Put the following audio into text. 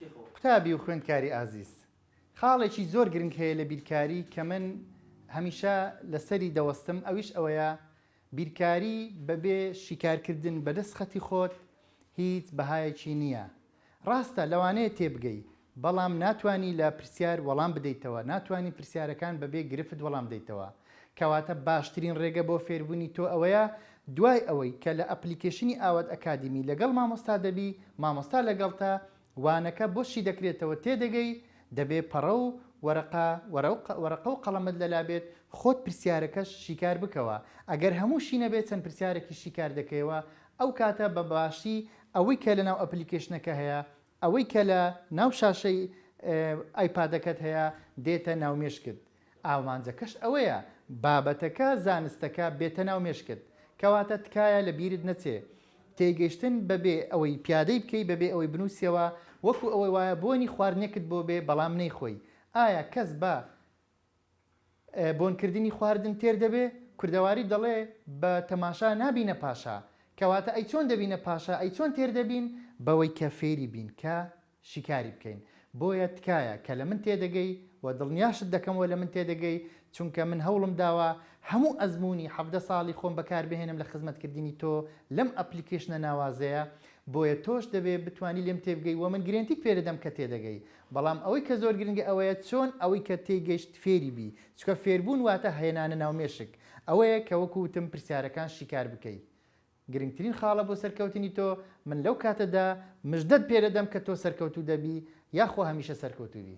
قوتابی و خوێندکاری ئازیز، خاڵێکی زۆر گرنگ هەیە لە بیرکاری کە من هەمیشە لەسەری دەوەستم، ئەویش ئەوەیە بیرکاری بەبێ شیکارکردن بە دەسخەتی خۆت هیچ بەهایەکی نییە. ڕاستە لەوانەیە تێبگەی، بەڵام ناتوانی لە پرسیار وەڵام بدەیتەوە، ناتوانی پرسیارەکان بەبێ گرفت وەڵام بدەیتەوە. کەواتە باشترین ڕێگە بۆ فێربونی تۆ ئەوەیە دوای ئەوەی کە لە ئەپلیکەیشنی ئاوات ئەکادیمی لەگەڵ مامۆستا دەبی مامۆستا لەگەڵتە وانەکە بۆ شیدەکرێتەوە تێدەگەی دەبێ پەڕە و وەرەقە وەرەقە و قەڵەمت لەلا بێت خۆت پرسیارەکەش شیکار بکەوە ئەگەر هەموشی نەبێ چەند پرسیارەکیش شیکار دەکەیەوە ئەوکاتە بەباشی ئەوەی کە لەناو ئەپلیکەیشنەکە هەیە ئەوەی کە لە ناو شاشەی ئایپادەکەت هەیە دێتە ناو مێشکت ئامانجەکەش ئەوەیە بابەتەکە زانستەکە بێتە ناو مێشکت کەواتە تکایە لە بیرت نەچێ تێگەیشتن بەبێ ئەوەی پیادەی بکەی بەبێ ئەوەی بنوسیەوە وەکو ئەوەی وایە بۆنی خواردنێکت بۆ بێ بەڵام نەیخۆی ئایا کەس بە بۆن کردنی خواردن تێر دەبێ کوردەواری دەڵێ بە تەماشا نابینە پاشا کەواتە ئەی چۆن دەبینە پاشا ئەی چۆن تێر دەبین بەوەی کە فێری بین کە شیکاری بکەین بۆیە تکایە کە لە من تێدەگەی و دڵنیاشت دەکەمەوە لە من تێدەگەی چونکە من هەوڵم داوە هەموو ئەزموونی حەڤدە ساڵی خۆم بەکار بهێنم لە خزمەت کردنی تۆ لەم ئەپلیکەیشنە ناوازەیە بۆیە تۆش دەبێ بتوانی لێم تێبگەی و من گرێنتیت پێ دەدەم کە تێدەگەی بەڵام ئەوەی کە زۆر گرنگە ئەوەیە چۆن ئەوەی کە تێیگەیشت فێری بی، چونکە فێربوون واتە هێنانە ناو مێشک، ئەوەیە کە وەکو وتم پرسیارەکان شیکار بکەی. گرنگترین خاڵە بۆ سەرکەوتنی تۆ، من لەو کاتەدا مژدەت پێدەدەم کە تۆ سەرکەوتوو دەبی، یاخوا هەمیشە سەرکەوتوو بی.